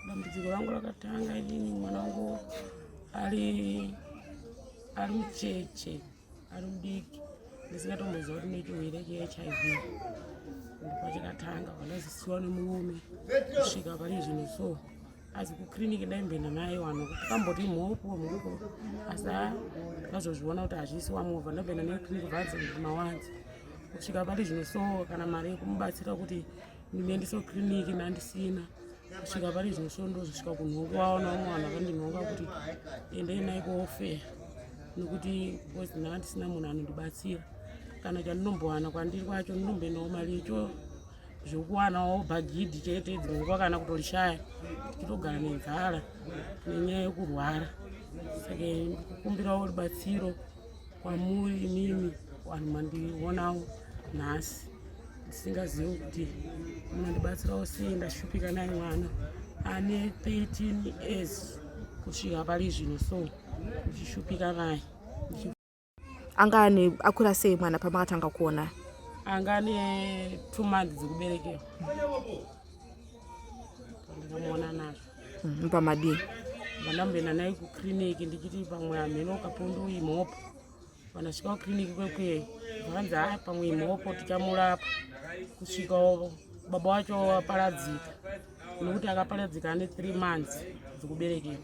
Dambudziko rangu rakatanga inini mwana wangu ari ari mucheche ari mudiki ndisingatomboziva kuti ne chirwere chehiv ndopachakatanga pandazisiwa nemurume kusvika pane zvinhu so asi kuclinic ndaimboenda naye wano kuti kamboti mhopo mhopo asi a ndikazozviona kuti hazvisi wamovha ndaimboenda naye clinic vadzo mawanzi kusvika pati zvino so kana mari yekumubatsira kuti ndinoendeswa kiriniki nandisina kusvika pari izvo so ndozosvika kunhongo waona vamwe vanhu vakandinhonga kuti endei nai kuofeya nekuti bcause ndanga ndisina munhu anondibatsira kana chandinombowana kwandiri kwacho ndinomboendawo mari yecho zvekuwanawo bhagidhi chete dzimwe nguva kana kutorishaya tichitogara nenzara nenyaya yekurwara saka kukumbirawo rubatsiro kwamuri imimi vanhu mandionawo nhasi ndisingazivi kuti munondibatsirawo sei ndashupika nai mwana ane 13 years kusvika pari zvino so ndichishupika naye anga ane akura sei mwana pamakatanga kuona anga ane two months dzekuberekewa ndinomuona nazvo mm, pamadii vandamboenda naye kuclinic ndichiti pamwe hamheno kapundu imhopo vanasvika kuclinic kwekweyo vakanzi haa pamwe imhopo tichamurapa kusvika baba wacho aparadzika nokuti akaparadzika ane three months dzekuberekera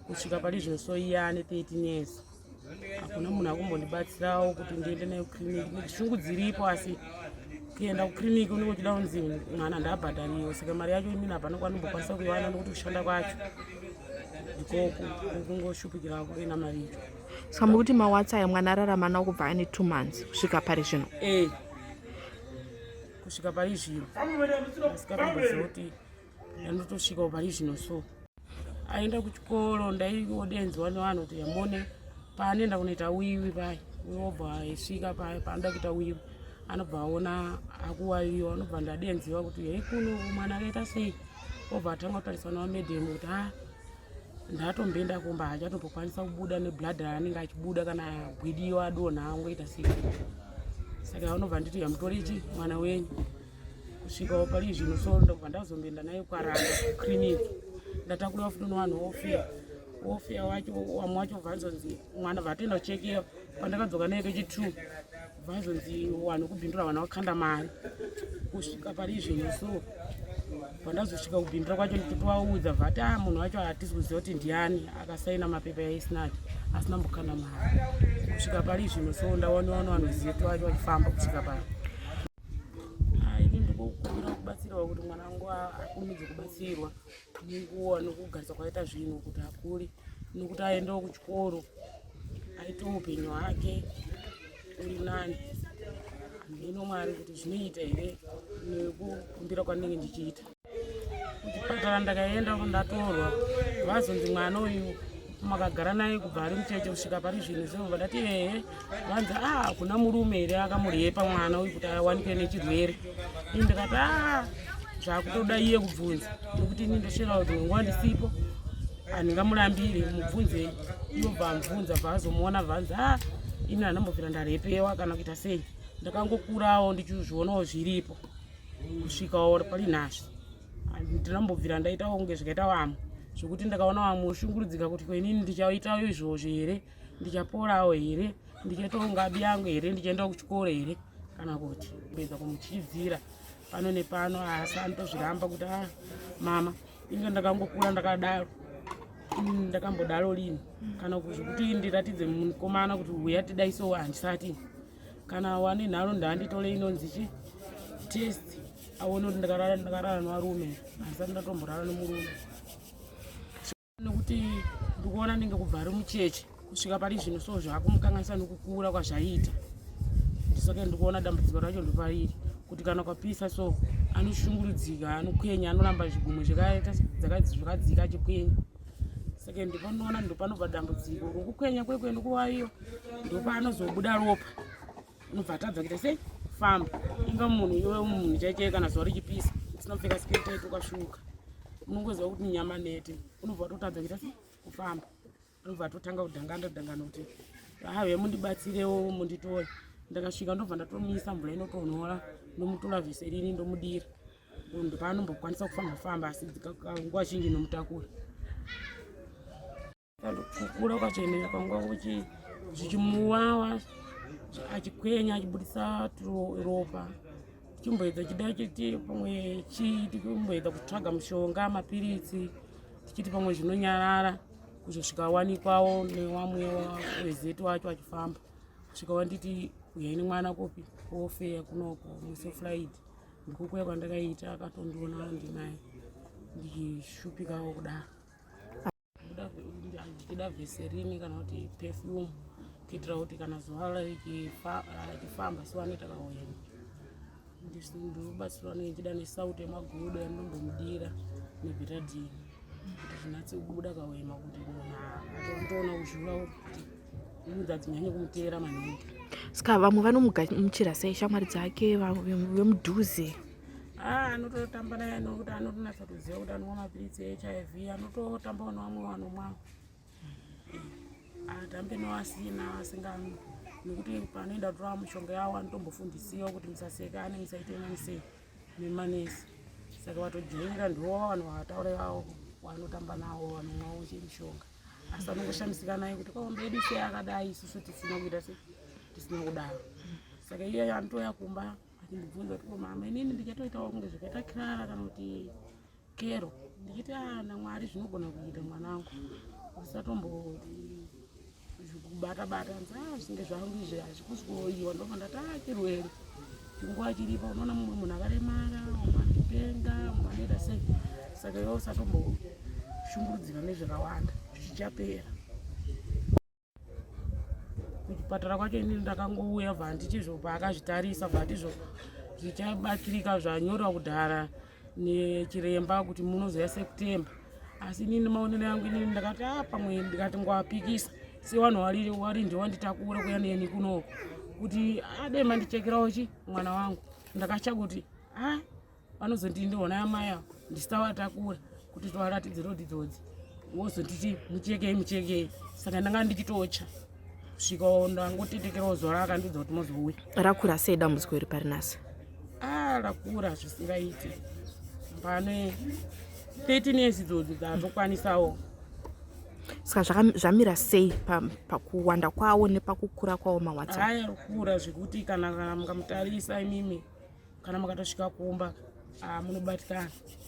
kusvika pari zvino so iye ane thirteen years hakuna munhu akumbondibatsirawo kuti ndiende nayo clinic nekushungu dziripo asi kuenda kuclinic unenge uchida kunzi mwana ndabhadhariwo saka mari yacho imini hapana kwanombokwanisa kuiwana nekuti kushanda kwacho ndikoko kungoshupikirawo kuenda mari icho saka mukuti mawatsa aya mwana ararama nawo kubva ane two months kusvika pari zvino e kusvika pari zvino asikatomboziva kuti Anotosvikawo pari zvino so aenda kuchikoro ndaiodenzwa nevanhu kuti yamone paanoenda kunoita wiwi paye unobva aisvika paye paanoda kuita wiwi anobva aona akuwawiwa anobva ndadenziwa kuti hei kuno mwana akaita sei obva atanga kutariswa navamedhemu kuti ha ah, ndatomboenda kumba hachatombokwanisa kubuda neblood raanenge achibuda kana agwidiwa adonha angoita sei saka anobva nditi yamutori chi mwana wenyu kusvikawo pari zvino so ndobva ndazomboenda naye kwarana kuclinic ndatakurwa futi nowanhu wofeya wofeya wacho wamwe wacho vazonzi mwana vatoenda kuchekeyo pandakadzoka naye kechi two vazonzi wanhu kubindura vana wakanda mari kusvika pari zvino so pandazosvika kubindura kwacho ndichitovaudza vati a ah, munhu wacho hatisi kuziva kuti ndiani akasaina mapepa yaisnati asina mbokanda mari kusvika pari zvino so ndaonewa nowanhu zieto wacho wachifamba kusvika pari ini ndikokumbira kubatsirwa kuti mwana wangu akurumidze kubatsirwa nenguva nokugarisa kwakaita zvinhu kuti akure nokuti aendewo kuchikoro aite upenyu hwake uri nani handino mwari kuti zvinoita here nekukumbira kwandinenge ndichiita kuchipatara ndakaenda ndatorwa vazonzi mwana uyu makagara naye kubva ari mucheche kusvika pari zvinhu zvo vadati ehe vanzi a ah, kuna murume here akamuryepa mwana uyu kuti awanikwe nechirwere i ndikati a ah, zvakutoda iye kubvunza nekuti ini ndosvira kuti nguva ndisipo handingamurambiri mubvunzei iyo bvamubvunza bvaazomuona bvanzi a ah, ini handambopira ndarepewa kana kuita sei ndakangokurawo ndichizvionawo zviripo kusvika waona pari nhasha ndinambobvira ndaitawo kunge zvikaita vamwe zvekuti ndakaona vamwe ushungurudzika kuti kwenini ndichaitawo izvozvo here ndichaporawo here ndichaitawo ngabi yangu here ndichaendawo kuchikoro here kana kuti kuedza kumuchidzira pano nepano asi anotozviramba kuti a ah, mama inge ndakangokura ndakadaro mm, ndakambodaro lini kana zvekuti ndiratidze mukomana kuti uya tidaisowo handisati kana wani nharo ndaanditole inonzi chi test aone kuti ndakarara ndakarara nevarume handisati ndatomborara nemurume nekuti ndikuona ndinge kubva ari mucheche kusvika pari zvino so zvakumukanganisa nekukura kwazvaita ndisoke ndikuona dambudziko racho ndopariri kuti kana kwapisa so anoshungurudzika anokwenya anoramba zvigumwe zvakaita zvakadzika achikwenya saka ndipanoona ndopanobva dambudziko rokukwenya kwekwe ndikuwaiyo ndopanozobuda ropa unobva atadza kuita sei famba inga munhu iwe munhu chaichee kana zuva richipisa usina kupfeka skete tokasvuka unongoziva kuti nyama nete unobva watotadza kuita sei kufamba unobva atotanga kudhanganda dhangana kuti have mundibatsirewo munditore ndakasvika ndobva ndatomisa mvura inotonhora ndomutora vese riri ndomudira munhu paanombokwanisa kufamba famba asi nguva zhinji nomutakura kukura kwachoemera kwanguva kuchi zvichimuwawa achikwenya achibudisa ropa tichimboedza chida chiti pamwe chii tichimboedza kutsvaga mushonga mapiritsi tichiti pamwe zvinonyarara kuzosvika wanikwawo newamwe wezeti wacho achifamba kusvika wanditi uyai nemwana kopi kofeya kunoko musefulaidi ndikokuya kwandakaita akatondiona andinaye ndichishupikawo kudaro ndichida veserini kana kuti perfume kuitira kuti kana zuva richifamba siwane takaoyeni ndinobatsirwa nechida nesauti yemagodo yandombomudira nebhetadhini kuti zvinatse kubuda kaoyema kuti munhu atoona kuzviura kuti ska vamwe vanomugamuchira sei shamwari dzake vemudhuze ah, anototamba naye nokuti anotonatsa kuziva kuti anomwa mapiritsi ehiv anototambawo nevamwe vanomwa atambe nevasina asingamwi nekuti panoenda kutora mishonga yavo anotombofundisiwa kuti musaseka ane musaite mani sei nemanesi saka vatojaira ndiwo vanhu vataura ivavo vanotamba navo vanomwawo chemishonga asi anongoshamisika naye kuti kwaomba yedu sei akadai isusu tisina kuita se tisina kudaro saka iye anotouya kumba achindibvunza kuti ko mama inini ndichatoitawo kunge zvakaita kirara kana kuti kero ndichiti ah, namwari zvinogona kuita mwana wangu usatombo zvekubata bata nzaa ah, zvinge zvangu izvi hazvikusi kuoiwa ndofa ndati ah, chirwere chinguva chiripo unoona mumwe munhu akaremara umwe anopenga umwe anoita sei saka iwe usatomboshungurudzirwa nezvakawanda zvichapera kuchipatara kwacho inini ndakangouya bva handichizvo paakazvitarisa bva handizvo zvichabatsirika zvanyorwa kudhara nechiremba kuti munozoya september asi inini maonero yangu inini ndakati a ah, pamwe ndikati ngwapikisa sevanhu wari ndio wanditakura kuya neni kunoko kuti adai ah, mandichekerawo chi mwana wangu ndakatya kuti a ah, vanozondii ndiona yamai avo ndisitavatakura kuti tivaratidze road idzodzi wozotiti muchekei muchekei saka ndanga ndichitocha kusvika ndangotetekerawo zuva raakandidza kuti mozouya rakura sei dambudziko iri pari nasi a ah, rakura zvisingaiti pane 13 years idzodzi dzatokwanisawo saka zvamira sei pakuwanda kwawo nepakukura kwawo mawhatsapp aya kukura zvekuti kana kana mukamutarisa imimi kana mukatosvika kumba ah, munobatikana